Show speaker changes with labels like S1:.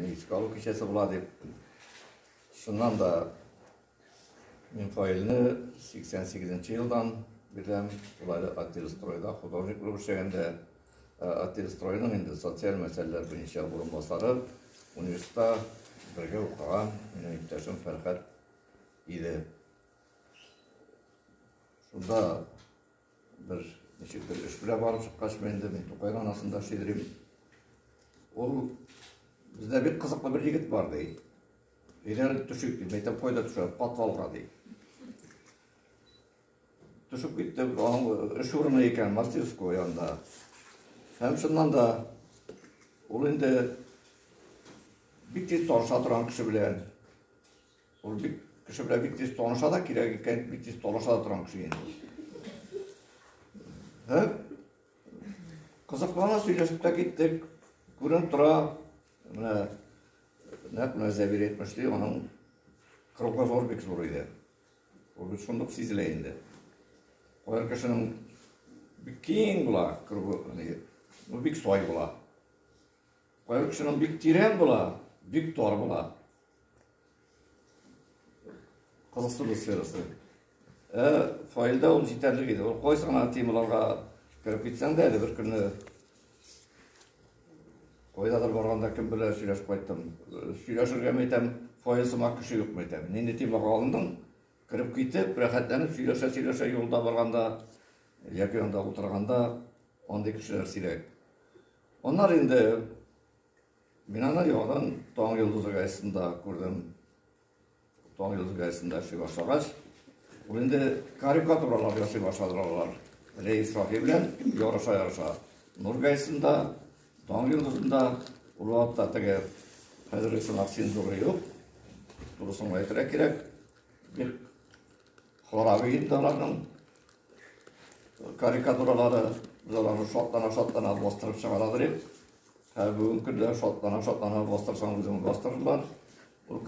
S1: Искә алу кичәсе була дип, шуннан да мин файлны 88 елдан бирәм, улай ательстройда художник булып эшләгәндә ательстройның инде социаль мәсьәләләр буенча урынбасары университетта бергә укыган минем иптәшем Фәрхәт иде. Шунда Бер ничек бер эш белән барып чыккач, мин инде мин Тукай ранасында эшли йөрим. Ул бездә бик кызыклы бер егет бар ди. Өйләнеп төшик ди. Мәйтәм кайда төшә? Подвалга ди. Төшеп китте, аның эш урыны икән, мастерской янында. Һәм шуннан да ул инде бик тиз таныша торган кеше белән Ул бик кеше белән бик тиз таныша да, кирәк икән, бик тиз талаша да торган кеше инде. Һәм кызыклана сөйләшеп тә киттек. Күренеп тора, менә нәкъ менә Зәбир әйтмешли, аның кругозор бик зур иде. Ул бит шундук сизелә инде. Кайбер кешенең бик киң була, кругы, ну бик сай була. Кайбер кешенең бик тирән була, бик тар була. Кызыксыну сферасы. Ә файлда ул җитәрлек иде. Ул кайсы гына темаларга кереп китсәң дә, әле бер көнне кайдадыр барганда кем белән сөйләшеп кайттым. Сөйләшергә мәйтәм, файл сымак кеше юк мәйтәм. Нинди темага алындың? Кереп китеп, рәхәтләнеп сөйләшә-сөйләшә юлда барганда яки анда утырганда андый кешеләр сирәк. Аннары инде Мин аны яңадан Таң йолдызы газетында күрдем. Таң йолдызы газетында эшли башлагач, ул инде карикатуралар ясый башладылар алар. Рәис Шаһи белән ярыша-ярыша. Нур газетында, Таң йолдызында, ул вакытта теге хәзерге сынак цензуры юк. Дурысын әйтергә кирәк. Бик харап инде аларның карикатуралары. Biz аларны шатлана-шатлана бастырып чыгаралар идек. Ә бүгенге көндә шатлана-шатлана бастырсаң үзең бастырырлар.